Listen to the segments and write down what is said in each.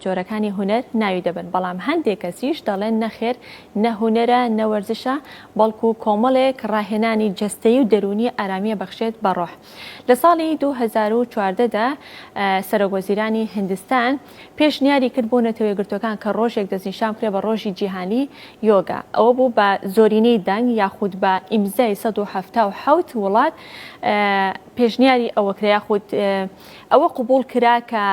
جۆرەکانی هونەر ناوی دەبەن بەڵام هەندێک کەسیش دەڵێن نەخێر نە هونەرە نە وەرزشە بەڵکو کۆمەڵێک ڕاهێنانی جەستەی و دەرونی ئارامیە بەخشێت بە ڕۆح لە ساڵی 2014 دا سەرۆک وەزیرانی هندستان پێشنیاری کرد بۆ نەتەوە یەکگرتوەکان کە ڕۆژێک دەستنیشان کرێ بە ڕۆژی جیهانی یۆگا ئەوە بوو بە زۆرینەی دەنگ یاخود بە ئیمزای 1970 وڵات پێشنیاری ئەوە کرا یاخود ئەوە قوبول کرا کە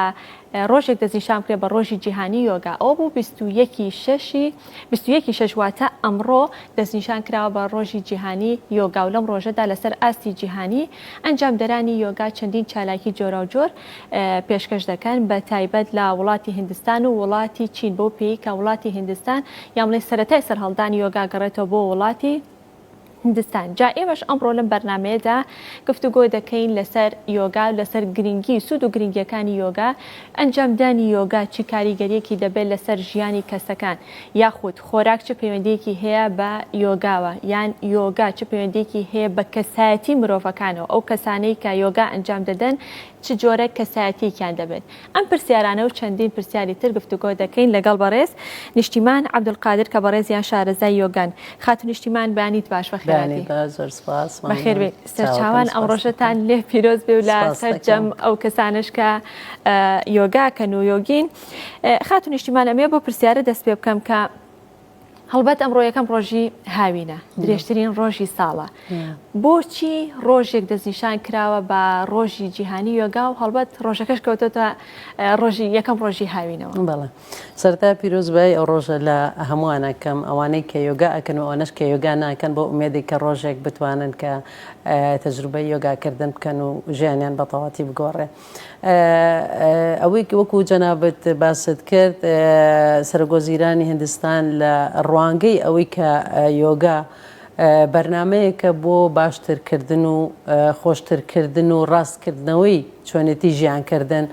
ڕۆژێک دەستنیشان بکرێت بە ڕۆژی جیهانی یۆگا ئەوە بوو بیست و یەک ی شەش ی بیست و یەک ی شەش واتە ئەمڕۆ دەستنیشان کراوە بە ڕۆژی جیهانی یۆگا و لەم ڕۆژەدا لەسەر ئاستی جیهانی ئەنجامدەرانی یۆگا چەندین چالاکی جۆراوجۆر پێشکەش دەکەن بە تایبەت لە وڵاتی هندستان و وڵاتی چین بەو پێی کە وڵاتی هندستان یان بڵێین سەرەتای سەرهەڵدانی یۆگا گەڕێتەوە بۆ وڵاتی هندستان جا ئێمەش ئەمڕۆ لەم بەرنامەیەدا گفتوگۆ دەکەین لەسەر یۆگا و لەسەر گرنگی سوود و گرنگیەکانی یۆگا ئەنجامدانی یۆگا چی کاریگەریەکی دەبێت لەسەر ژیانی کەسەکان یاخود خۆراک چ پەیوەندیەکی هەیە بە یۆگاوە یان یۆگا چ پەیوەندیەکی هەیە بە کەسایەتی مرۆڤەکانەوە ئەو کەسانەی کە یۆگا ئەنجام دەدەن چ جۆرە کەسایەتیەکیان دەبێت؟ ئەم پرسیارانە و چەندین پرسیاری تر گفتوگۆ دەکەین لەگەڵ بەڕێز نیشتیمان عەبدولقادر کە بەڕێزیان شارەزای یۆگان. خاتوو نیشتیمان بەیانیت باش بەخێرهاتی. بەخێر بێی سەرچاوان ئەم ڕۆژەتان لێ پیرۆز بێ و لە سەرجەم ئەو کەسانەش کە یۆگاکەن و یۆگین. خاتوو نیشتیمان ئەمەوێ بەو پرسیارە دەست پێ بکەم کە، هەڵبەت ئەمڕۆ یەکەم ڕۆژی هاوینە درێژترین ڕۆژی ساڵە بۆچی ڕۆژێک دەستنیشان کراوە بە ڕۆژی جیهانی یۆگا و هەڵبەت ڕۆژەکەش کەوتۆتە ڕۆژی یەکەم ڕۆژی هاوینەوە بەڵێ سەرتا پیرۆزبایی ئەو ڕۆژە لە هەمووانەکەم ئەوانەی کە یۆگا ئەکەن و ئەوەنەش کە یۆگا ناکەن بۆ ئومێدی کە ڕۆژێک بتوانن کە تەجروبەی یۆگاکردن بکەن و ژیانیان بەتەواتی بگۆڕێ. ئەوەی کە وەکو جەنابت باست کرد سەرۆک وەزیرانی هندستان لە ڕوانگەی ئەوەی کە یۆگا بەرنامەیەکە بۆ باشتر کردن و خۆشتر کردن و ڕاست کردنەوەی چۆنێتی ژیان کردن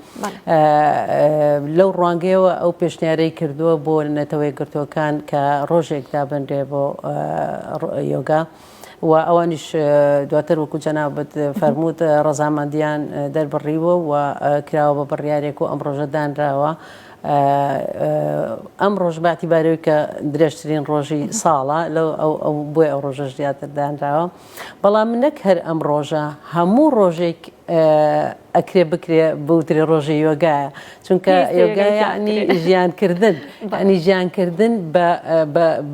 لەو ڕوانگەیەوە ئەو پێشنیارەی کردووە بۆ نەتەوەی گرتوەکان کە ڕۆژێک دابنرێ بۆ یۆگا. و ئەوانیش دواتر وەکو جەنابت فەرمووت ڕەزامەندیان دەربڕیوە و کراوە بە بڕیارێک و ئەمڕۆژە دانراوە ئەمڕۆژ بەعتیبارەوەی کە درێژترین ڕۆژی ساڵە لە بۆی ئەو ڕۆژەش زیاتر دانراوە بەڵام من نەک هەر ئەم ڕۆژە هەموو ڕۆژێک ئەکرێ بکرێ بوترێ ڕۆژی یۆگایە چونکە یۆگا یعنی ژیانکردن ئەنی ژیانکردن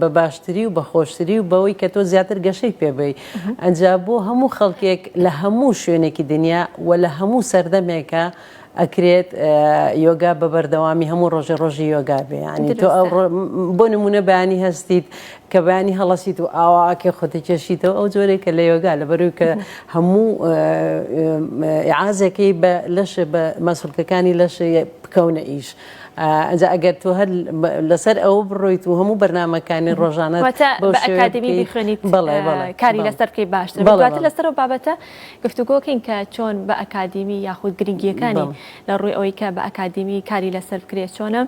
بە باشتری و بە خۆشتری و بەوەی کە تۆ زیاتر گەشەی پێبی ئەجا بۆ هەموو خەڵکێک لە هەموو شوێنێکی دنیا و لە هەموو سەردەمێکە ئەکرێت یۆگا بە بەردەوامی هەموو ڕۆژێ ڕۆژی یۆگا بێ ینی تۆ بۆ نمونە بەیانی هەستیت کە بەیانی هەڵەشیت و ئاوا ئاکێ خۆتی کێشیتەوە ئەو جۆرەی کە لە یۆگا لەبەروی کە هەموو عازێکی بە لەش بە مەسولکەکانی لەش بکەونە ئیش ئەجا ئەگەر تۆ هەر لەسەر ئەو بڕۆیت و هەموو بەرنمەکانی ڕۆژانە ئەکادمی بخوێنیت بەڵێ کاری لەسەر بکەی باشتر بەڵاتر لەسەر و بابەتە گفتوگۆکەین کە چۆن بە ئەکادمی یاخود گرنگیەکانی لە ڕووی ئەوەی کە بە ئەکادمی کاری لەسەر بکرێت چۆنە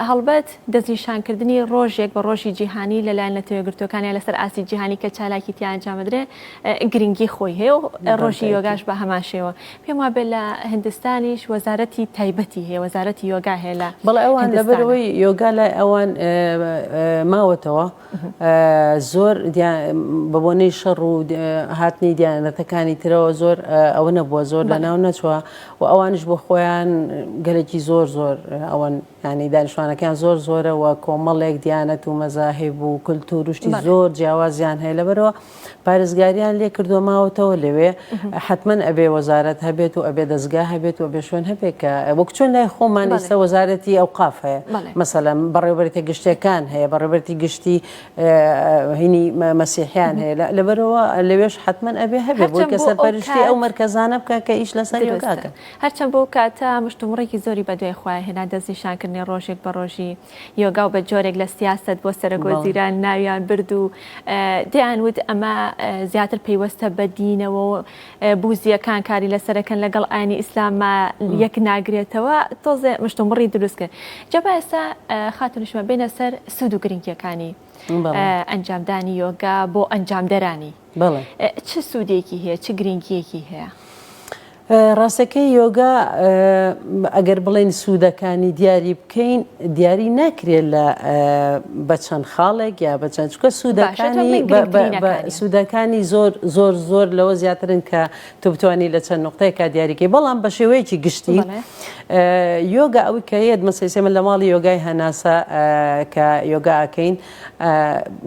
هەڵبەت دەستنیشانکردنی ڕۆژێک بە ڕۆژی جیهانی لەلایەن نەتەوەیەکگرتووەکانیان لەسەر ئاستی جیهانی کە چالاکی تیا ئەنجامدرێ گرنگی خۆی هەیە و ڕۆژی یۆگاش بە هەمان شێوە پێم وابێ لە هندستانیش وەزارەتی تایبەتی هەیە وەزارەتی یۆگا هەیە لە بەڵێ ئەوان لەبەرەوەی یۆگا لای ئەوان ماوەتەوە زۆر بە بۆنەی شەڕ و هاتنی دیانەتەکانی ترەوە زۆر ئەوە نەبووە زۆر لە ناو نەچوە و ئەوانش بۆ خۆیان گەلێکی زۆر زۆر ئەوەن یانی دانیشتوانەکەیان زۆر زۆرە و کۆمەڵێک دیانەت و مەزاهیب و کلتور و شتی زۆر جیاوازیان هەیە لەبەرەوە پارێزگاریان لێ کردووە ماوەتەوە لەوێ حتمما ئەبێ وەزارەت هەبێت و ئەبێ دەستگا هەبێت و بێ شوێن هەبێت کە وەک چۆن لای خۆمان ئێستا وەزارەتی ئەو قاف هەیە مەسەلەن بەڕێوبەرێتە گشتەکان هەیە بەڕێبەرتی گشتی هینی مەسیحیان هەیە لەبەرەوە لەوێش حتمما ئەبێ هەبێت بۆی کە سەرپەرشتی ئەو مەرکەزانە بکە کە ئیش لەسەر یۆگاکەن. هەرچەند بۆ ئەو کاتە مشتومڕێکی زۆری بەدوای خۆیان هێنا، دەستنیشانکردنی ڕۆژێک بە ڕۆژی یۆگا و بە جۆرێک لە سیاسەت بۆ سەرەکوەزیران ناویان برد و دەیان وت ئەمە زیاتر پەیوەستە بە دینەوە و بوزییەکان کاری لەسەرەکەن لەگەڵ ئاینی ئیسلامما یەک ناگرێتەوە تۆزێ مشتومڕی دروست کرد جا با ئێستا خاتونشمە بێنە سەر سوود و گرنگیەکانی ئەنجامدانی یۆگا بۆ ئەنجامدەرانی چ سوودێکی هەیە چ گرنگیەکی هەیە؟ ڕاستەکەی یۆگا ئەگەر بڵێن سوودەکانی دیاری بکەین دیاری ناکرێت لە بە چەند خاڵێک یا بە چەند چکە سوودەکانی سوودەکانی زۆر زۆر زۆر لەوە زیاترن کە تۆ بتانی لە چەند نقطەیەکە دیاریکەی بەڵام بە شێوەیەکی گشتی یۆگا ئەوی کە یەت مەسەسێمە لە ماڵی یۆگای هەناسە کە یۆگاکەین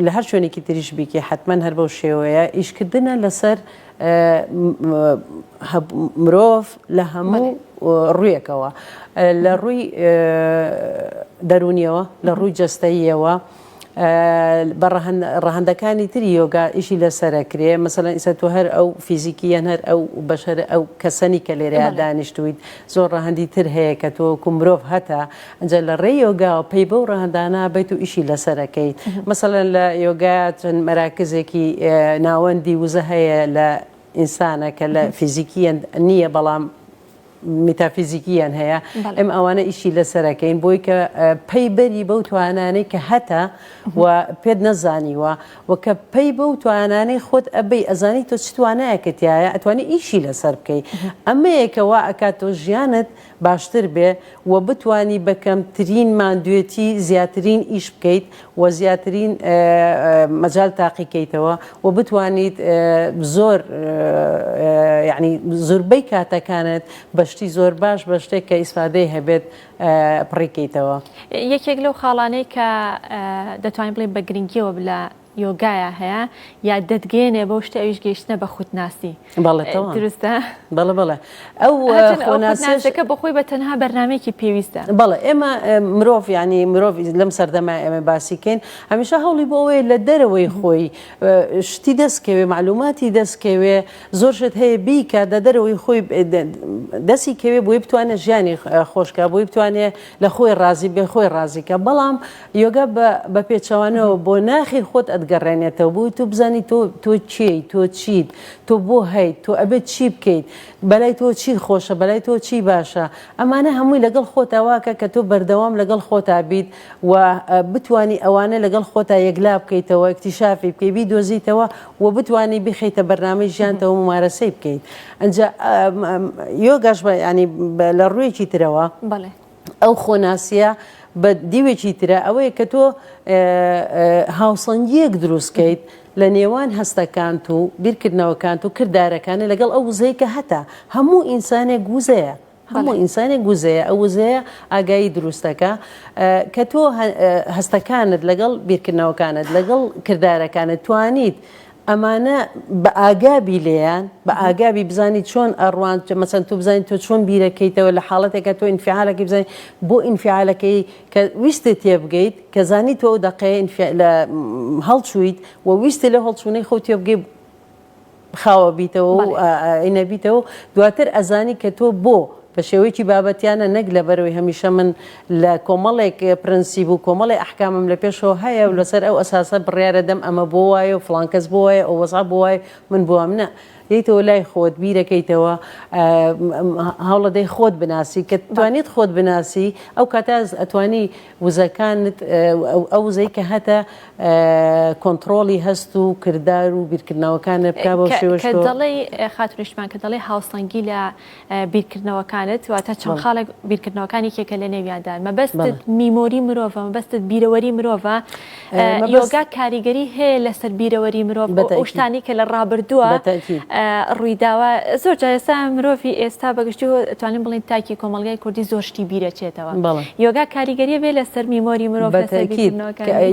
لە هەر شوێنێکی تریش بیکە حتمما هەر بەو شێوەیە ئیشکردە لەسەر مرۆڤ لە هەموو ڕویەکەوە لە ڕووی دەرونیەوە لە ڕووی جەستەییەوە بە ڕەهندەکانی تری یۆگا ئیشی لەسرە کرێ مەسەن ئیسە تۆ هەر ئەو فیزیکیەن هەر ئەو بەشەر ئەو کەسەنی کە لێرەیان دانیشتویت زۆر ڕەهندی تر هەیە کە تۆکو مرۆڤ هەتا ئینجا لە ڕێی یۆگاوە پەی بەو ڕەهەندانە بیت و ئیشی لەسەر کەیت مەسەلەن لە یۆگا چەند مەراکزێکی ناوەندی وزە هەیە لە ئینسانە کە لە فیزیکیەن نییە بەڵام میتافیزیکیان هەیە ئەم ئەوانە ئیشی لەسەرەکەین بۆی کە پەی بەری بەو توانانەی کە هەتە و پێت نەزانیوە و کە پەی بەو توانانەی خۆت ئەبەی ئەزانی تۆ چتوانایەکەتیایە ئەتوانی ئیشی لەسەر بکەیت ئەمەیەکەوە ئەکات تۆ ژیانت باشتر بێ و بتوانی بە کەمترین ماندوێتی زیاترین ئیش بکەیت و زیاترین مەجال تاقی کەیتەوە و بتوانیت زۆر یانی زوربەی کاتەکانت بە شتی زۆر باش بە شتێک کە ئیسفادەی هەبێت پڕی کەیتەوە. یەکێک لەو خاڵانەی کە دەتوانین بڵێین بە گرنگیەوە لە یۆگایا هەیە یا دەتگەیەنێ بەو شتە ئەویش گەیشتنە بە خودناسی بەڵێ تەواو دروستە بەڵێ بەڵێ ئەو هەرچەند ئەو خۆناسیش خودناسەکە بە خۆی بە تەنها بەرنمەیەکی پێویستە بەڵێ ئێمە ئە، مرۆڤ ینی مرۆڤ لەم سەردەمای ئێمە باسی کەین هەمیشە هەوڵی بۆ ئەوەیە لە دەرەوەی خۆی ئە، شتی دەستکەوێ معلوماتی دەستکەوێ زۆر شت هەیە بیکا دە دەرەوەی خۆی ئە، دە، دەستی کەوێ بۆی بتوانێت ژیانی خۆشکا بۆی بتوانێت لە خۆی ڕازی بێ خۆی ڕازیکە بەڵام یۆگا بە بە پێچەوانەوە بۆ ناخی خۆت ئەتگەڕێنێتەوە بۆی تۆ بزانی تۆ تۆ کێی تۆ چیت تۆ بۆ هەیت تۆ ئەبێت چی بکەیت بەلای تۆ چی خۆشە بەلای تۆ چی باشە ئەمانە هەمووی لەگەڵ خۆتا واکە کە تۆ بەردەوام لەگەڵ خۆتا بیت و بتانی ئەوانە لەگەڵ خۆتا یەکلا بکەیتەوە ئیکتیشافی بکەی بیدۆزیتەوە و بتانی بیخەیتە بەرنامەی ژیانتەوە مومارەسەی بکەیت ئەنجا یۆگاش بە یانی لە ڕوویەکی ترەوە. بەڵێ. ئەو خۆناسیە بە دیوێکی ترە ئەوەیە کە تۆ هاوسەنگیەک دروستکەیت لە نێوان هەستەکانت و بیرکردنەوەکانت و کردارەکانە لەگەڵ ئەو وزەی کە هەتا هەموو ئینسانێک گوزەیە هەموو ئینسانێک گوزەیە ئەو وزەیە ئاگایی دروستەکە کە تۆ هەستەکانت لەگەڵ بیرکردنەوەکانت لەگەڵ کردارەکانت توانیت ئەمانە بە ئاگا بی لێیان، بە ئاگا بی بزانی چۆن ئەڕوان، مەسەن تۆ بزانی تۆ چۆن بیرەکەیتەوە لە حاڵەتێکا تۆ ئینفیعالەکەی بزانی بۆ ئینفیعالەکەی کە ویستت تێبگەیت، کە زانی تۆ ئەو دەقەیە ئینفیال لە هەڵچوویت و ویستی لەو هەڵچوونەی خۆو تێبگەی خاوە بیتەوە و بەڵێ. ئینە بیتەوە و دواتر ئەزانی کە تۆ بۆ. بە شێوەیەکی بابەتیانە نەک لەبەرئەوەی هەمیشە من لە کۆمەڵێک پرەنسیپ و کۆمەڵێ ئەحکامم لە پێشەوە هەیە و لەسەر ئەو ئەساسە بڕیارە دەم ئەمە بۆ وایە و فڵان کەس بۆ وایە ئەو وەزعە بۆ وایە و من بۆ وام نا دێیتەوە لای خۆت بیرەکەیتەوە هەوڵەدەی خۆت بناسی کە توانیت خۆت بناسی ئەو کاتە ئەتوانی وزەکانت ئەو وزەی کە هەتە کۆنتڕۆڵی هەست و کردار و بیرکردنەوەکانت بکە بەو شێوەش تۆ. کە دەڵێی خاتوو نیشتمان کە دەڵێی هاوسەنگی لە بیرکردنەوەکانت واتە چەند خاڵێک بیرکردنەوەکان یەکێکە لە نێویادا مەبەستت میمۆری مرۆڤە مەبەستت بیرەوەری مرۆڤە یۆگا کاریگەری هەیە لەسەر بیرەوەری مرۆڤ شتانی کە لە ڕابردووە ڕوویداوە زۆر جایسا مرۆڤی ئێستا بەگشتی توانین بڵین تاکی کۆمەلگای کوردی زۆر شتی بیرەچێتەوە یۆگا کاریگەری بێ لەسەر میمۆری مرۆڤ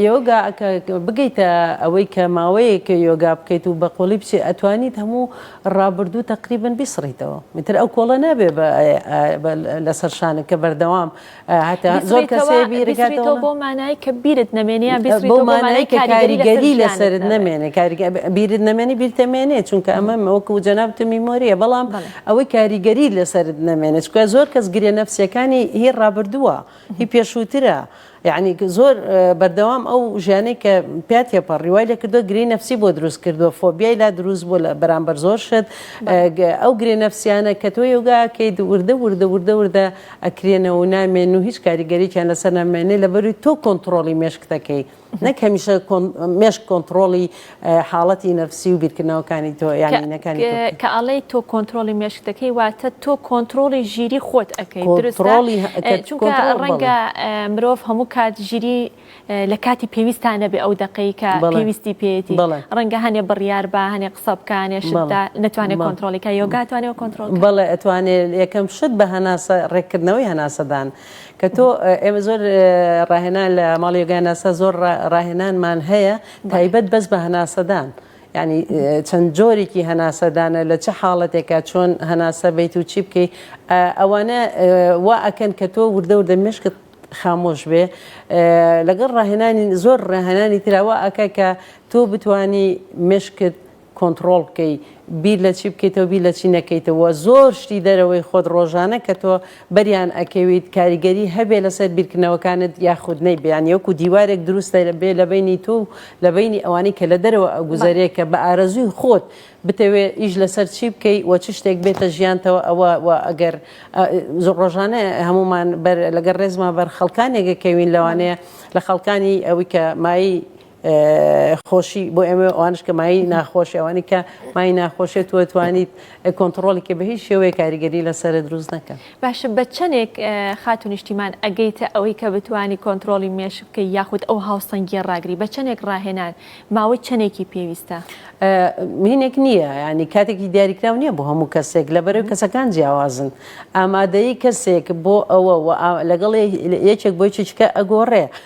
یۆگا بگەیتە ئەوەی کە ماوەیە کە یۆگا بکەیت و بەقۆلی بچێت ئەتوانیت هەموو ڕابردوو تەقریبەن بیسڕیتەوە ئیتر ئەو کۆڵە نابێ بە لەسەر شانت کە بەردەوام هەتا زۆر کەسێ بیرکاتەوە بۆ مانای کە بیرت نەمێنێ یان بیسڕیتەوە بۆ مانای کە کاریگەری لەسەرت نەمێنێ کاریگە بیرت نەمێنێ بیرت ئەمێنێ چونکە ئەمە وەکوو جەنابتم میمۆرییە بەڵام ئەوەی کاریگەری لەسەرت نەمێنێ چونکە زۆر کەس گرێ نەفسییەکانی هی ڕابردووە هی پێشووترە یەعنی زۆر بەردەوام ئەو ژیانەی کە پیا تێپەڕی وای لێکردووە گرێی نەفسی بۆ دروست کردووە فۆبیای لا دروست بووە لە بەرامبەر زۆر شت ئەو گرێ نەفسیانە کە تۆ یۆگا کەیت وردە وردە وردە وردە ئەکرێنەوە و نامێنن و هیچ کاریگەرییان لەسەر نامێنێ لەبەروی تۆ کۆنتڕۆڵی مێشکتەکەی نەک هەمیشە مێشک کۆنتڕۆڵی حاڵەتی نەفسی و بیرکردنەوەکانی تۆ یانی نەکانی تۆ کە کە ئەڵێی تۆ کۆنترۆڵی مێشک دەکەی واتە تۆ کۆنترۆڵی ژیری خۆت ئەکەی دروستە چونکە ڕەنگە مرۆڤ هەموو کات ژیری لە کاتی پێویستان نەبێ ئەو دقەی کە پێویستی پێێتی ڕەنگە هەنێ بڕیار بە هەنێ قسە بکانێ شدا نتوانێت کۆنتترۆلەکە یۆگاتوانێت کۆنتترۆل بەڵێ ئەتوانێت یەکەم شت بە هەناسە ڕێککردنەوەی هەناسەدان کە تۆ ئێمە زۆر ڕاهێنان لە ماڵی یۆگاناسا زۆر ڕاهێنانمان هەیە تایبەت بەس بە هەناسەدان. ینی چەند جۆرێکی هەناسەدانە لە چه حاڵەتێکە چۆن هەناسە بیت و چی بکەی ئەوانە وا ئەکەن کە تۆ وردە وردە مشکت خامۆش بێ لەگەڵ ڕاهێنانی زۆر ڕاهێنانی تراوە ئەکە کە تۆ بتانی مشکت کۆنتڕۆڵ بکەی بیر لە چی بکەیتەوە بیر لە چی نەکەیتەوە زۆر شتی دەرەوەی خۆت ڕۆژانە کە تۆ بەریان ئەکەویت کاریگەری هەبێ لەسەر بیرکردنەوەکانت یاخود نەیبێ یان یەکو دیوارێک دروستە لە بێ لە بینی تو و لە بینی ئەوانەی کە لە دەرەوە ئەگوزەرێ کە بە ئارەزووی خۆت بتەوێ ئیش لەسەر چی بکەی و چ شتێک بێتە ژیانتەوە ئەوە و ئەگەر زۆر ڕۆژانە هەمومان بەر لەگەر ڕێزما بەر خەڵکانێک ئەکەوین لەوانەیە لە خەڵکانی ئەوی کە مای خۆشی بۆ ئێمە ئەوانش کە مای ناخۆشی ئەوانی کە مای ناخۆشێت وە توانیت کۆنتترۆڵی کە بە هیچ شێوەیە کاریگەری لەسرە دروست نەکە باشە بە چەندێک خات و نیشتیمان ئەگەیتە ئەوەی کە بتانی کۆنتترۆلی مێش بکە یاخود ئەو هاوسەنگی ڕاگری بە چەندێک ڕاهێنان ماوەی چەندێکی پێویستە مینێک نییە ینی کاتێکی دیاریکرااو نییە بۆ هەموو کەسێک لە بەرەو کەسەکان جیاوازن ئامادەی کەسێک بۆ ئەوە لەگەڵ یەکێک بۆی چچکە ئەگۆڕێ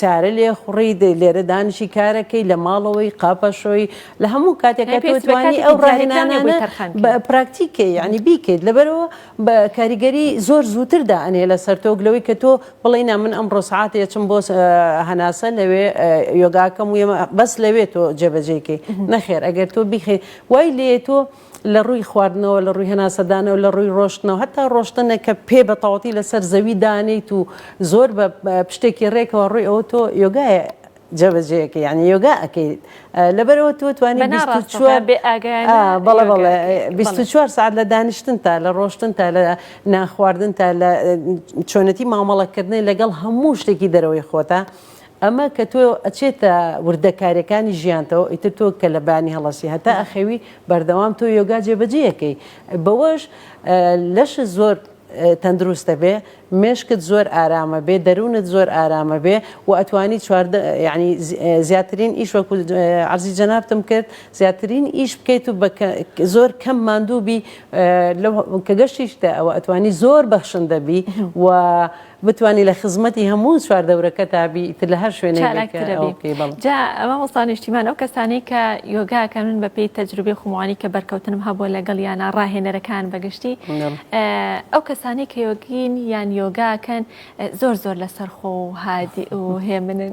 سارە لێ خوڕی لێرە دانیشی کارەکەی لە ماڵەوەی قاپەشۆی لە هەموو کاتێکە توانی ئەو ڕاهێنانە پراکتیکێ یعنی بیکەیت لەبەرەوە بە کاریگەری زۆر زووتردا ئەنێ لە سەرتۆک لەوەی کە تۆ بڵێ نا من ئەم ڕۆسعات یەچم بۆ هەناسە لەوێ یۆگاکەم و بەس لەوێ تۆ جێبەجێکەی نەخێر ئەگەر تۆ بیخێ وای لێ تۆ لە ڕووی خواردنەوە، لە ڕووی هەناسەدانەوە، لە ڕووی ڕۆشتنەوە، هەتا ڕۆشتنە کە پێ بە تەواوەتی لەسەر زەوی دانێیت و زۆر بە پشتێکی ڕێکەوە ڕووی ئەوە تۆ یۆگایە جێبەجێ ئەکەی یانی یۆگا ئەکەیت لەبەر ئەوە تۆ توانی بیست و چوار بەڵێ بەڵێ بیست و چوار سەعات لە دانیشتن تا لە ڕۆشتن تا لە نانخواردن تا لە چۆنەتی مامەڵەکردنی لەگەڵ هەموو شتێکی دەرەوەی خۆتە ئەمە کە تۆ ئەچێتە وردەکاریەکانی ژیانتەوە ئیتر تۆ کە لە بانی هەڵەسی هەتا ئەخەوی بەردەوام تۆ یۆگا جێبەجێەکەی بەوەش لەش زۆر تەندروستە بێ مێشکت زۆر ئارامە بێ دەروونت زۆر ئارامە بێ و ئەتوانی چواردە ینی زیاترین ئیش وەکو عزی جەنابتم کرد زیاترین ئیش بکەیت و زۆر کەم ماندووبی کە گەشتیشتە ئەوە ئەتوانی زۆر بەخشن دەبی و بتوانی لە خزمەتی هەموو چوار دەورەکەتا بی ئیتر لە هەر شوێنێک بی کە چالاکترە ئەوە بی بکەی بەڵێ جا مامۆستا نیشتیمان ئەو کەسانەی کە یۆگا ئەکەن من بە پێی تەجروبەی خۆم ئەوانەی کە بەرکەوتنم هەبووە لەگەڵیانا ڕاهێنەرەکان بە گشتی بەڵێ ئه ئەو کەسانەی کە یۆگین یان یۆگا ئەکەن ئه زۆر زۆر لەسەرخۆ و هادیئ و هێمنن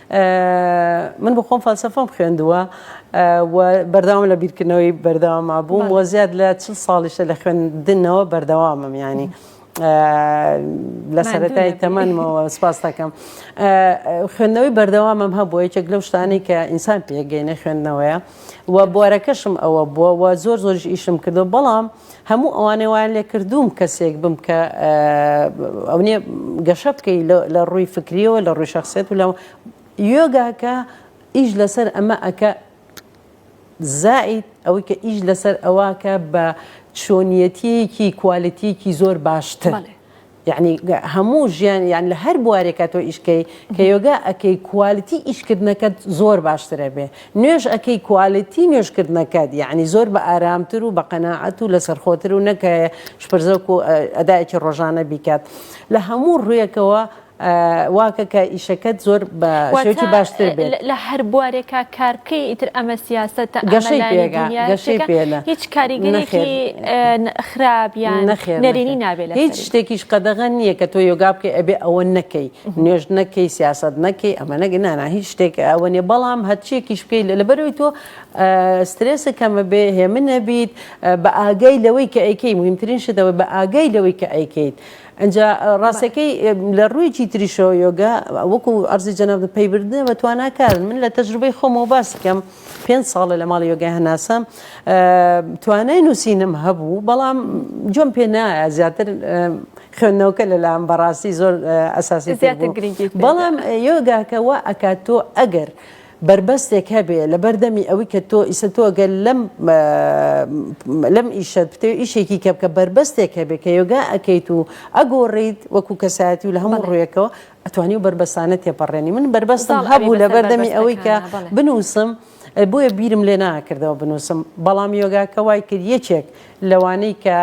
من بۆ خۆم فەلسەفەم خوێندووە و بەردەوام لە بیرکردنەوەی بەردەواما بووم وە زیاد لە چل ساڵیشە لە خوێندنەوە بەردەوامم ینی. لە سەرەتای تەمەنمەوە سپاس دەکەم خوێندنەوەی بەردەوامم هەبوو یەکێک لەو شتانی کە ئینسان پێگەینە خوێندنەوەیە و بوارەکەشم ئەوە بووە و زۆر زۆریش ئیشم کردو بەڵام هەموو ئەوانەی وایان لێکردووم کەسێک بم کە ئەونێ گەشە بکەی لە ڕووی فکریەوە لە ڕووی شخصێت و لە یۆگاکە ئیش لەسەر ئەمە ئەکە زائید ئەوەی کە ئیش لەسەر ئەوە کە بە چۆنیەتیەکی کوالەتیەکی زۆر باشتر. یەعنی هەموو ژیان یان لە هەر بوارێکا تۆ ئیش کەی کە یۆگا ئەکەی کوالیتی ئیشکردنەکەت زۆر باشتر ئەبێ نوێژ ئەکەی کوالیتی نوێژکردنەکەت یەعنی زۆر بە ئارامتر و بە قەناعەت و لەسەرخۆتر و نەک شپرزەک و ئەدایەکی ڕۆژانە بیکات لە هەموو ڕوویەکەوە واکە کە ئیشەکەت زۆر بە شێوەکی باشتر بێت لە هەر بوارێکا کار بکەی ئیتر ئەمە سیاسەتە ئەمە گەشەی لای پێگا دنیا گەشەی شتێکە پێلە هیچ کاریگەرێکی خراپ یان نەخێر نەرێنی نابێت لە هیچ شتێکیش قەدەغە نییە کە تۆ یۆگا بکەی ئەبێ ئەوە نەکەی نوێژ نەکەی سیاست نەکەی ئەمە نەگە نانا هیچ شتێک ئەوە نیە بەڵام هەرچیەکیش بکەی لە لەبەرەوەی تۆ سترێسە کەمە بێ هێمن نەبیت بە ئاگای لەوەی کە ئەیکەی مهمترین شتەوە بە ئاگای لەوەی کە ئەیکەیت ئەجا ڕاستەکەی لە ڕوویکی تریشەوە یۆگا وەکو ئەرزی جەنابت پەیبردنە بە تواناکارن من لە تەجروبەی خۆمەوە باس بکەم. پێنج ساڵە لە ماڵی یۆگای هەناسە توانای نووسینم هەبوو بەڵام جۆم پێ نایە زیاتر خوێندنەوەکە لەلام بەڕاستی زۆر ئەساسی بەڵام یۆگاکەەوە ئەکات تۆ ئەگەر. بربەستێک هەبێ لە بەردەمی ئەوەی کە تۆ ئیسە تۆ گەل لەم لەم ئیشە پتێ ئیشێکی کە بکە بربەستێک هەبێ کە یۆگا ئەەکەیت و ئەگۆڕیت وەکو کەسایەتی و لە هەموو ڕوێکەوە ئەتوانی و بەربەسانە تێپەڕێنی من بەربەستم هەبوو لە بەردەمی ئەوەی کە بنووسم بۆیە بیرم لێ ناکردەوە بنووسم بەڵام یۆگاکە وای کرد یەکێک لەوانەی کە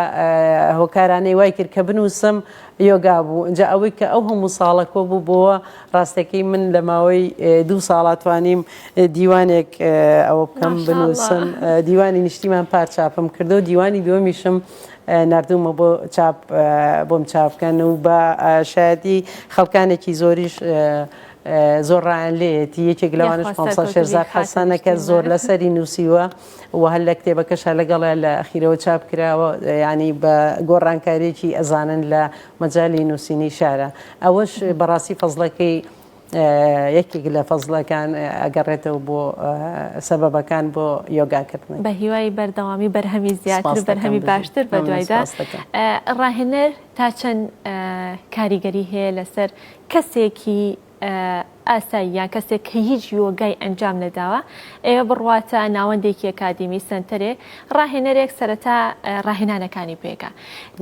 هۆکارانەی وای کرد کە بنووسم یۆگا بوو اینجا ئەوەی کە ئەو هەموو ساڵە کۆ بوو بۆە ڕاستەکەی من لە ماوەی دوو ساڵاتوانیم دیوانێک ئەوە بکەم بنووسم دیوانی نیشتیمان پارچاپم کردو دیوانی دووەمیشم ناردوومە بۆ چاپ بۆم چاپ بکەن و بە شایەدی خەڵکانێکی زۆریش زۆر ڕایان لێتی یەکێک لەوانش خۆمسا شێرزاد حەسەنە کە زۆر لەسەری نووسیوە و هەر لە کتێبەکەشە لەگەڵە لە ئەخیرەوە چاپ کراوە ینی بە گۆڕانکاریێکی ئەزانن لە مەجای نووسینی شارە ئەوەش بەڕاستی فەزلەکەی یەکێک لە فەزڵەکان ئەگەڕێتەوە بۆ سەبەبەکان بۆ یۆگا کردن. بە هیوای بەردەوامی بەرهەمی زیاتر بەرهەمی باشتر بە دوایدا. ڕاهێنەر تا چەند کاریگەری هەیە لەسەر کەسێکی ئاسایی یان کەسێک کە هیچ یۆگای ئەنجام نەداوە ئێوە بڕواتە ناوەندێکی ئەکادیمی سنتەرێک ڕاهێنەرێک سەرەتا ڕاهێنانەکانی پێکە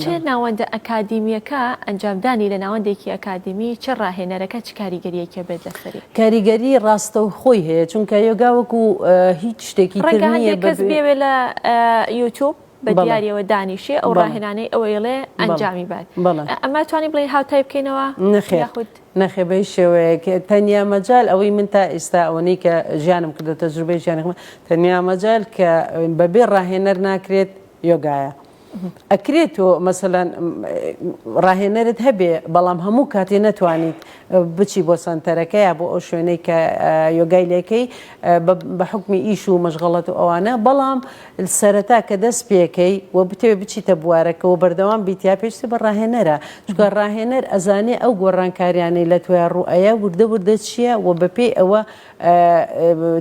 چ ناوەندە ئەکادیمیەکە ئەنجامدانی لە ناوەندێکی ئەکادیمی چ ڕاهێنەرەکە چ کاریگەریەکی بێت لەسەری؟ کاریگەری ڕاستەوخۆی هەیە چونکە یۆگا وەکو هیچ شتێکی تر نیە. ڕەنگە هەندێک کەس بێوێ لە یوتوب بە دیاریەوە دانیشێ ئەو ڕاهێنانەی ئەو ئێڵێ ئەنجامی بات ئەمە توانی بڵێ هاوتای بکەینەوە نەخێ خود نەخێ بەی شێوەیەک تەنیا مەجال ئەوەی من تا ئێستا ئەوەی کە ژیانم کردو تەجروبەی ژیانم تەنیا مەجال کە بەبێ ڕاهێنەر ناکرێت یۆگایە ئەکرێ تۆ مەسەلەن ڕاهێنەرت هەبێ بەڵام هەموو کاتێ نەتوانیت بچی بۆ سەنتەرەکە یا بۆ ئەو شوێنەی کە یۆگای لێکەی بە حکومی ئیش و مەشغەڵەت و ئەوانە بەڵام سەرەتا کە دەست پێکەی و بتەوێ بچیتە بوارەکەەوە بەردەوام بیتیا پێشتی بە ڕاهێنەرە چکە ڕاهێنەر ئەزانێ ئەو گۆڕانکاریانەی لە توێ ڕوئەیە وردە وردە چییە و بەپێی ئەوە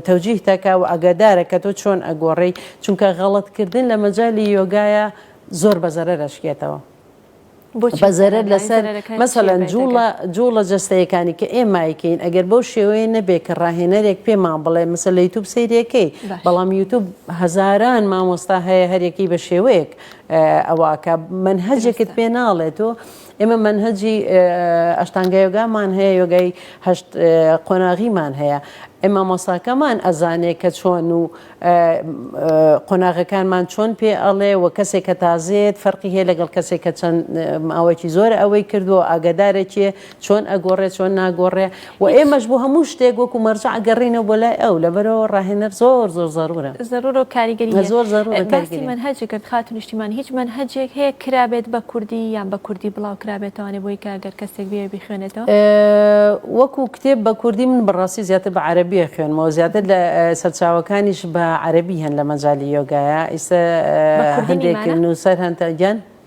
تەوجیه دەکا و ئاگادارە کە تۆ چۆن ئەگۆڕێی چونکە غەڵەت کردن لە مەجالی یۆگایە زۆر بە زەرەر ئەشکێتەوە بۆچی بە زەرەر بەزەرەرە یانی لەسەر زەرەرەکانی چیە مەسەلەن بەی دەگەن جوڵە جوڵە جەستەیەکانی کە ئێمای کەین ئەگەر بەو شێوەیە نەبێ کە ڕاهێنەرێک پێمان بڵێ مەسە لە یوتوب سەیرەکەی باش بەڵام یوتوب هەزاران مامۆستا هەیە هەر یەکەی بە شێوەیەک ئەوە ئەکا مەنهەجێکت دروستە پێ ناڵێ تۆ ئێمە مەنهەجی ئەشتانگا یۆگامان هەیە یۆگای هەشت قۆناغیمان هەیە ئێ مامۆساکەمان ئەزانێ کە چۆن و قۆناغەکانمان چۆن پێ ئەڵێ و کەسێک کە تازێت فەرقی هەیە لەگەڵ کەسێک کە چەند ماوەیەکی زۆر ئەوەی کردووە ئاگادارێکێ چۆن ئەگۆڕێ چۆن ناگۆڕێ و ئێمەش بۆ هەموو شتێک وەکو مەرجەع گەڕینەوە بۆ لای ئەو لەبەرئەوە ڕاهێنەر زۆر زۆر زەرورە. زەرورە و کاریگەری هەیە. زۆر زەرورە کاریگەری هەیە. باسی مەنهەج کرد خاتوو نیشتیمان هیچ مەنهەجێک هەیە کرابێت بە کوردی یان بە کوردی بڵاو کرابێتەوانێ بۆی کە گەر کەسێک بیەوێ بیخوێنێتەوە؟ وەکو کتێب بە کوردی من بە ڕاستی زیاتر بە عەرەبی ئەخوێنمەوە زیاتر لە سەرچاوەکانیش بە عەرەبی هەن لە مەجالی یۆگایا ئیستا هەندێک نوسەر هەن تا گیان.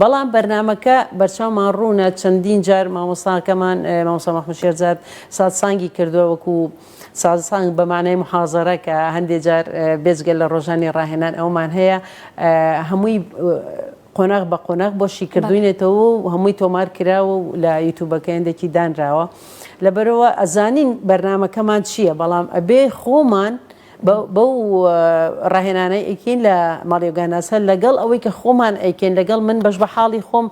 بەڵام بەرنامەکە بەرچاومان ڕوونە چەندین جار مامۆستاکەمان مامۆستا مەحمود شێرزاد سازسانگی کردووە وەکو سازسانگ بە مانای محازەرە کە هەندێک جار بێجگە لە ڕۆژانی ڕاهێنان ئەومان هەیە هەمووی قۆناغ بە قۆناغ بۆ شیکردوینێتەوە و هەمووی تۆمار کراوە و لە یوتوبەکە هێندێکی دانراوە لەبەرەوە ئەزانین بەرنمەکەمان چییە بەڵام ئەبێ خۆمان لە بەو ڕاهێنانەی ئەیکەین لە ماڵی یۆگاناسە لەگەڵ ئەوەی کە خۆمان ئەیکەین لەگەڵ من بەش بە حاڵی خۆم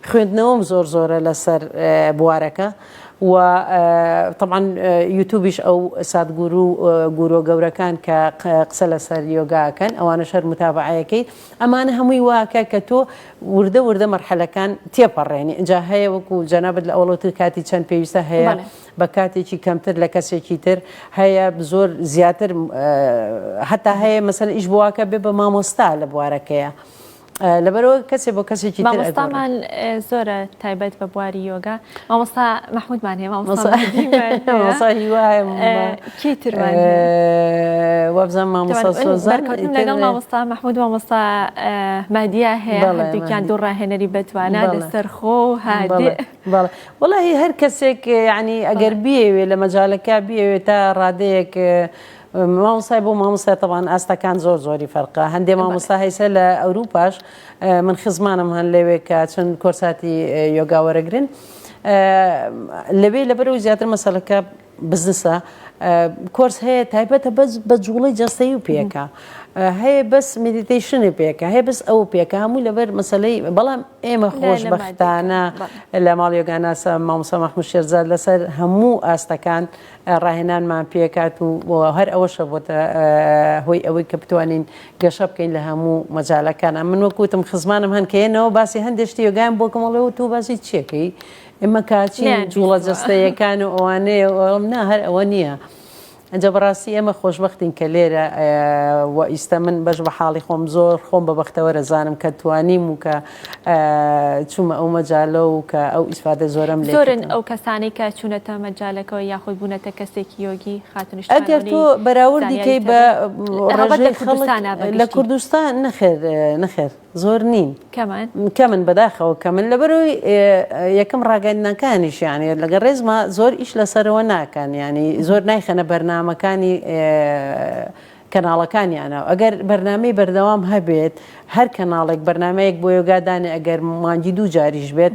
خوێندنەوەم زۆر زۆرە لەسەر بوارەکە و طبعاان یوتوبیش ئەو ساتگورو گورۆ گەورەکان کە قسە لەسەر یۆگاکەن ئەوانە شەر متابعەکەی ئەمانە هەمووی واکە کە تۆ وردە وردە مەرحەلەکان تێپەڕێنی ئەجا هەیە وەکو جەنابەت لە ئەوڵەوتر کاتی چەند پێویستە هەیە بە کاتێکی کەمتر لە کەسێکی تر هەیە زۆر زیاتر هەتا هەیە مەسەن ئیش بواکە بێ بە مامۆستا لە بوارەکەیە لەبەرەوە کەسێ بۆ کەسێکی مامۆستامان زۆرە تایبەت بە بواری یۆگا مامۆستا مححمودمان هەیە مامۆستا کیتر وابزان مامۆستا سۆزان لەگەڵ مامۆستا مححمود مامۆستا مادیا هەیە دوکیان دوو ڕاهێنەری بەتوانە لەسەر خۆ هادێ بەڵێ وەڵاهی هەر کەسێک یعنی ئەگەر بیەوێ لە مەجالەکە بیەوێ تا ڕادەیەک مامۆسای بۆ مامۆستا تەوان ئاستەکان زۆر زۆری فەرقا هەندێ مامۆستا هەیسە لە ئەوروپاش من خزمانم هەن لەوێ کە چەند کۆرساتی یۆگاوەرەگرن لەوێ لەبەرەوە زیاتر مەسەلەکە بزنسە کۆرس هەیە تایبەتە بەس بە جوڵەی جەستەی و پێکە هەیە بەس مدیتیشنی پێکە هەیە بەس ئەو پێکە هەموو لەبەر مەسلەی بەڵام ئێمە خۆشببختانە لە ماڵیۆگاناسە مامۆسا مححمود شێرزاد لەسەر هەموو ئاستەکان ڕاهێنانمان پێکات و هەر ئەوەشە بۆتە هۆی ئەوەی کە بتوانین گەشە بکەین لە هەموو مەجالەکانە من وەکوتم خزمانم هەنکەیەنەوە باسی هەندێشتی یۆگان بۆکەمەڵەوە تۆ باسی چیەکەی ئێمە کاچی نەیان جوڵە بیستووە. جەستەیەکان و ئەوانەیە و ئەڵێم نا هەر ئەوە نییە ئەجا بەڕاستی ئێمە خۆشبەختین کە لێرە ئە، و ئیستە من بەش بە حاڵی خۆم زۆر خۆم بە بەختەوەر ئەزانم کە توانیم و کە ئە، چوومە ئەو مەجالە و کە ئەو ئیسفادە زۆرەم لێ زۆرن کردووە. ئەو کەسانەی کە چوونەتە مەجالەکەوە یاخود بوونەتە کەسێکی یۆگی خاتونی ئەگەر تۆ شکاوەنی بەراوردی زانیاری کەی بە تەبن. هەڵبەت لە ڕێژەی خەڵک کوردستانا بە لە گشتی. کوردستان نەخێر نەخێر. زۆر نین. کەمن؟ کەمن بەداخەوە کەمن لەبەرەوەی یەکەم ڕاگەندنەکانیش یانێ لەگە ڕێزما زۆر ئیش لەسەرەوە ناکەن ینی زۆر نایخەنە بەرنمەکانی کەناڵەکانیانە ئەگەر بەرنمەی بەردەوام هەبێت هەر کەناڵێک بەرنمەیەک بۆ یۆگادانێ ئەگەر مانگی دوو جاریش بێت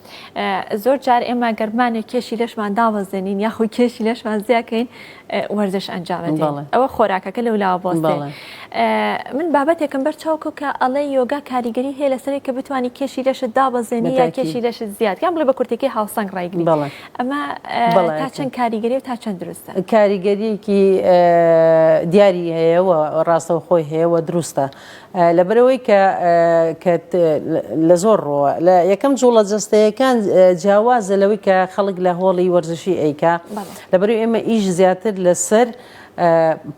زۆر جار ئێمە گەر بمانێ کێشی لەشمان دابەزێنین یاخود کێشی لەشمان زیاکەین وەرزش ئەنجام بدەین بەڵێ. ئەوە خۆراکەکە لەو لاوە بەڵێ. بۆستێ من بابەتێکم بەر چاوکو کە ئەڵێ یۆگا کاریگەری هەیە لەسەرێ کە بتوانی کێشی لەشت دابەزێنی یا بەتاکی. کێشی لەشت زیاد یان بڵێ بە کورتێکی هاوسەنگ ڕایگری بەڵێ. ئەمە بەڵێ. تا چەند کاریگەری و تا چەند دروستە کاریگەریەکی دیاری هەیە و ڕاستەوخۆی هەیە و دروستە لەبەرئەوەی کە کە لە زۆر ڕۆوە لە یەکەم جوڵە جەستەیەکان جیاوازە لەوەی کە خەڵک لە هۆڵی وەرزشی ئەیکا لەبەرو ئێمە ئیش زیاتر لەسەر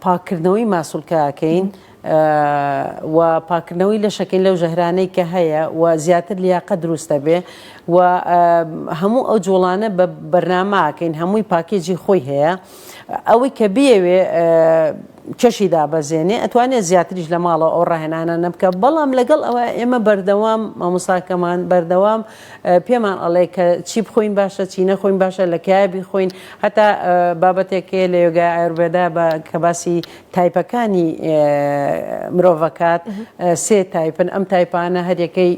پاکردنەوەی ماسولکەکەین و پاکردنەوەی لەشەکەین لەو ژەهرانەی کە هەیە و زیاتر لیاقە دروستە بێ و هەموو ئەو جوڵانە بە بەرنامەکەین هەمووی پاکێجی خۆی هەیە. ئەوەی کە بیەوێ کەشی دابەزێنێ ئەتوانێت زیاتریش لە ماڵەوە ئەو ڕاهێنانە نەبکە بەڵام لەگەڵ ئەوە ئێمە بەردەوام مامۆساکەمان بەردەوام پێمان ئەڵێ کە چی بخۆین باشە چی نەخۆین باشە لە کایە بیخۆین هەتا بابەتێکێ لە یۆگای ئایربێدا کە باسی تایپەکانی مرۆڤەکات سێ تایپن ئەم تایپانە هەرەکەی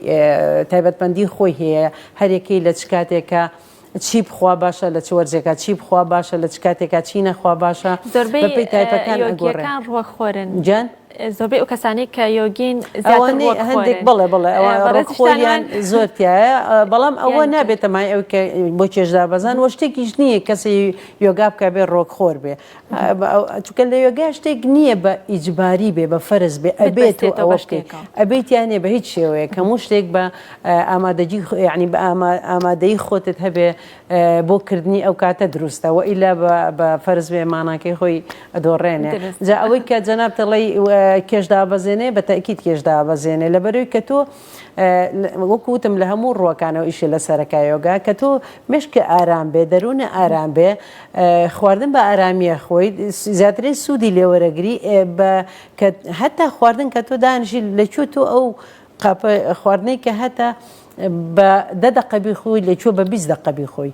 تایبەتمەندی خۆی هەیە هەرەکەی لە چ کاتێکە چی بخوا باشە لە چ وەرزێکا چی بخوا باشە لە چ کاتێکا چی نەخوا باشە زۆربەی بەپێی تایپەکان ئەگۆڕێ یۆگیەکان ڕوە خۆرن گیان زۆربەی ئەو کەسانی کە یۆگین زیاتر ئەوانەی ڕوەک هەندێک خۆرن بڵێ بڵێ ئەوە ئێ، بەڕێز ڕۆکخۆریان شتانەوە- زۆر تایە ئە، بەڵام ئەوە یان نابێتە مای ئەو کە بۆ چێژ دابەزان وە شتێکیش نییە کەسێ یۆگا بکە بێ ڕۆکخۆر بێ چونکە لە یۆگا شتێک نییە بە ئیجباری بێ بە فەرز بێ ئەبێت و ئەوە شتێک ئەبێت یانێ بە هیچ شێوەیە کە هەموو شتێک بە ئامادەجی ینی بە ئامادەی خۆتت هەبێ بۆ کردنی ئەو کاتە دروستە و ئیلا بە فەرز بێ ماناکەی خۆی ئەدۆڕێنێ جا ئەوەی کە جەناب تەڵی کێشدا بەزێنێ بە تاکییت کێشدا بەزێنێ لە بەرەوەی کە تۆ وەکو وتم لە هەموو ڕووەکانەوە ئیشی لەسەرەکە یۆگا کە تۆ مشکی ئارام بێ دەروونە ئارام بێ خواردن بە ئارامیە خۆی زیاتری سوودی لێوەرەگری بە هەتا خواردن کە تۆ دانیشی لەکوێ تۆ ئەو قاپە خواردنەی کە هەتا بە دە دەقەبی خۆی لەکوێ بە بیست دەقەبی خۆی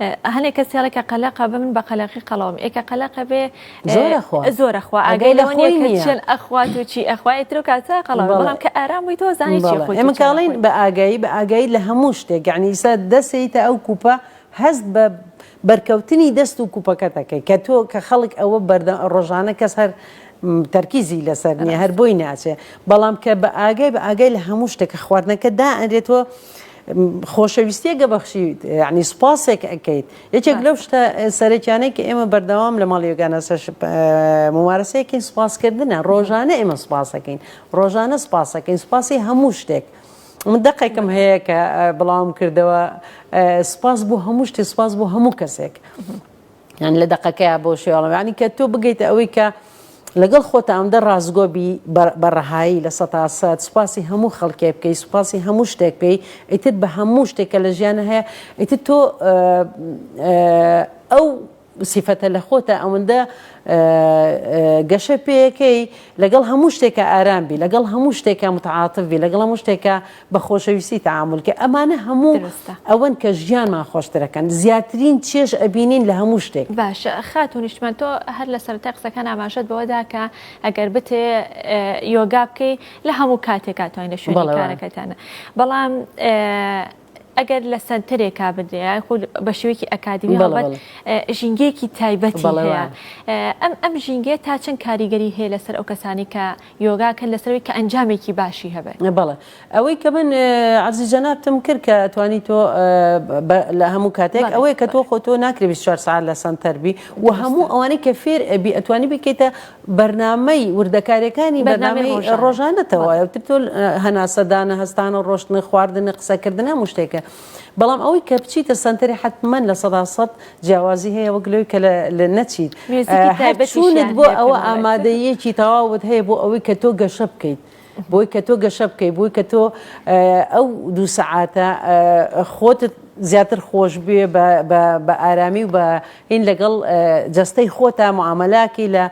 ئە هەنێ کەس هێڵێ کە قەلەقە بە من بە قەلەقی قەڵەوم ئێ کە قەلەقە بێ زۆرەخوا زۆرەخوا ئەگەی لەوە نیە کە چێن ئەخوات و چی ئەخوای تر و کاتە قەڵەوە بەڵام کە ئارام بووی تۆ زانی چی خۆی ئێمە کاڵین بە ئاگایی بە ئاگایی لە هەموو شتێک یعنی ئیسا دەسەیتە ئەو کوپە هەست بە بەرکەوتنی دەست و کوپەکە دەکەی کە تۆ کە خەڵک ئەوە بەردە ڕۆژانە کەس هەر تەرکیزی لەسەر نیە هەر بۆی ناچێ بەڵام کە بە ئاگای بە ئاگای لە هەموو شتێکە خواردنەکە دا ئەرێتەوە خۆشەویستیەک ئەبەخشیت یانی سوپاسێک ئەکەیت یەکێک لەو شتە سەرەکیانەی کە ئێمە بەردەوام لە ماڵی یۆگانا سەش ممارەسەیەکەین سوپاسکردنە ڕۆژانە ئێمە سوپاسەکەین ڕۆژانە سوپاسەکەین سوپاسی هەموو شتێک من دەقێکم هەیە کە بڵاوم کردەوە سوپاس بۆ هەموو شتێ سوپاس بۆ هەموو کەسێک یان لە دەقەکەیا بۆ شێواڵم یانی کە تۆ بگەیتە ئەوەی کە لەگەڵ خۆتە ئەمدە ڕاستگۆ بی بە ڕەهایی لە سەتا سەد سوپاسی هەموو خەڵکێ بکەی سوپاسی هەموو شتێک بکەی ئیتر بە هەموو شتێکە لە ژیانە هەیە ئیتر تۆ ئەو سیفەتە لە خۆتە ئەوەندە گەشە پێیەکەی لەگەڵ هەموو شتێکە ئارام بی لەگەڵ هەموو شتێکە متعااتف بی لەگەڵ هەموو شتێکە بە خۆشەویستی تەعامول کە ئەمانە هەموو دروستە. ئەوەن کە ژیانمان خۆشتر ئەکەن زیاترین چێژ ئەبینین لە هەموو شتێک. باشە خاتوو نیشتمان تۆ هەر لە سەرەتای قسەکان ئاماژەت بەوە دا کە ئەگەر بتێ یۆگا بکەی لە هەموو کاتێکا توانی لە شوێنی بەڵێ وایە. کارەکەتانا بەڵام ئەگەر لە سەنتەرێکا بدرێ یان خود بە شێوەیەکی ئەکادیمی بەڵێ هەڵبەت بەڵێ ئێ ژینگەیەکی تایبەتی بەڵێ هەیە وایە. ئەم ئەم ژینگەیە تا چەند کاریگەری هەیە لەسەر ئەو کەسانەی کە یۆگا کە لەسەر ئەوەی کە ئەنجامێکی باشی هەبێت. بەڵێ ئەوەی کە من عەرزی جەنابتم کرد کە ئەتوانی تۆ لە هەموو کاتێک ئەوەیە کە تۆ خۆ تۆ ناکرێ 24 سەعات لە سەنتەر بی و هەموو ئەوانەی کە فێر ئەبی ئەتوانی بکەیتە بەرنامەی وردەکاریەکانی بەرنامەی ڕۆژانەتەوە تۆ هەناسەدانە هەستانە ڕۆشتنە خواردنە قسەکردنە مشتێکە بەڵام ئەوەی کە بچیتە سەنتەری حەتمەن لە سەدا سەد جیاوازی هەیە وەک لەوەی کە لە نەچیت هەرچوونت بۆ ئەوە ئامادەیەکی تەواوت هەیە بۆ ئەوەی کە تۆ گەشە بکەیت بۆی کە تۆ گەشە بکەیت بۆی کە تۆ ئەو دوو سەعاتە خۆتت زیاتر خۆش بێ بە ئارامی و بە هین لەگەڵ جەستەی خۆتا معاملاکی لە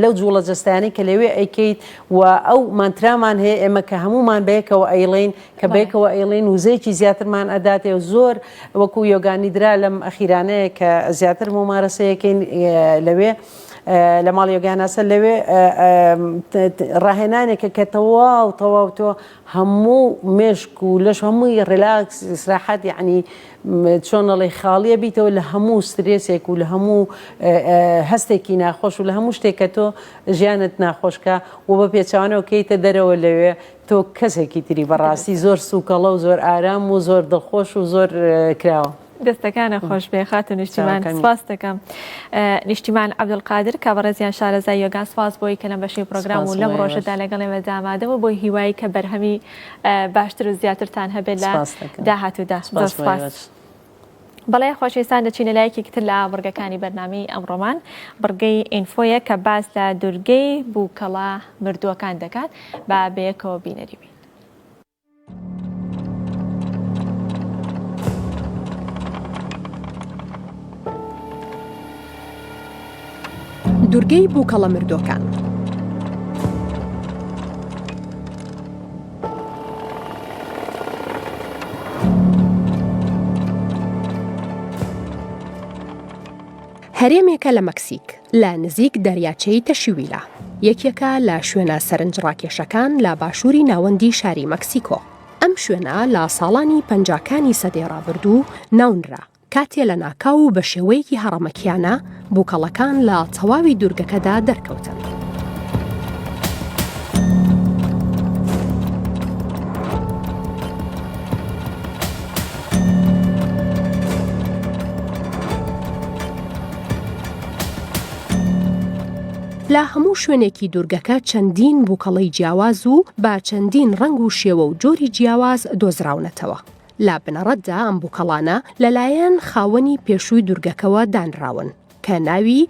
لەو جوڵە جستانی کە لەوێ ئەیکەیت و ئەو مانترامان هەیە ئێمە کە هەمومان بەیەکەوە ئەیڵین کە بەیەکەوە ئەیڵێین وزەیەکی زیاترمان ئەداتێ و زۆر وەکو یۆگا نیدرا لەم ئەخیرانەیە کە زیاتر مومارەسەیەکەین لەوێ لە ماڵ یۆگاناسە لەوێ ڕاهێنانێکە کە تەواو تەواو تۆ هەموو مێشک و لەش هەمووی ڕێلاکس سراحەت یعنی چۆنەڵی خاڵیە بیتەوە لە هەموو سترێسێک و لە هەموو هەستێکی ناخۆش و لە هەموو شتێکە تۆ ژیانت ناخۆشکە و بە پێچوانەوە کەیتە دەرەوە لەوێ تۆ کەسێکی تری بەڕاستی زۆر سوکەڵە و زۆر ئارام و زۆر دڵخۆش و زۆر کراوە. دەستەکانە خۆش بێ خاتو نیشتیمان سپاس دەکەم نیشتیمان عبدقادر کە بەڕێزیان شارەزای یۆگا سپاس بۆی کە لەم بەشی پرۆگرام و لەم ڕۆژەدا لەگەڵێ مەدامادەوە بۆی هیوایی کە بەرهەمی باشتر و زیاترتان هەبێت لە داهاتوودا سپاس. بەڵێ خۆشەویستان دەچینە لایەکێکی تر لە بڕگەکانی بەرنامەی ئەمڕۆمان بڕگەی ئینفۆیە کە باس لە دورگەی بووکەڵە مردووەکان دەکات با بەیەکەوە بینەری بین. دوورگەی بووکەڵە مردووەکان. هەرێمێکە لە مەکسیک لە نزیک دەریاچەی تەشیویلا یەکێکە لە شوێنە سەرنج ڕاکێشەکان لە باشووری ناوەندی شاری مەکسیکۆ ئەم شوێنە لە ساڵانی پەنجاکانی سەدەی ڕابردوو ناونرا کاتێ لە ناکاو و بە شێوەیەکی هەڕەمەکیانە بووکەڵەکان لە تەواوی دوورگەکەدا دەرکەوتن. لە هەموو شوێنێکی دوورگەکە چەندین بووکەڵی جیاواز و با چەندین ڕنگ و شێوە و جۆری جیاواز دۆزراونەتەوە لە بنەڕەتدا ئەم بوکەڵانە لەلایەن خاوەنی پێشووی دورگەکەوە دانراون کە ناوی،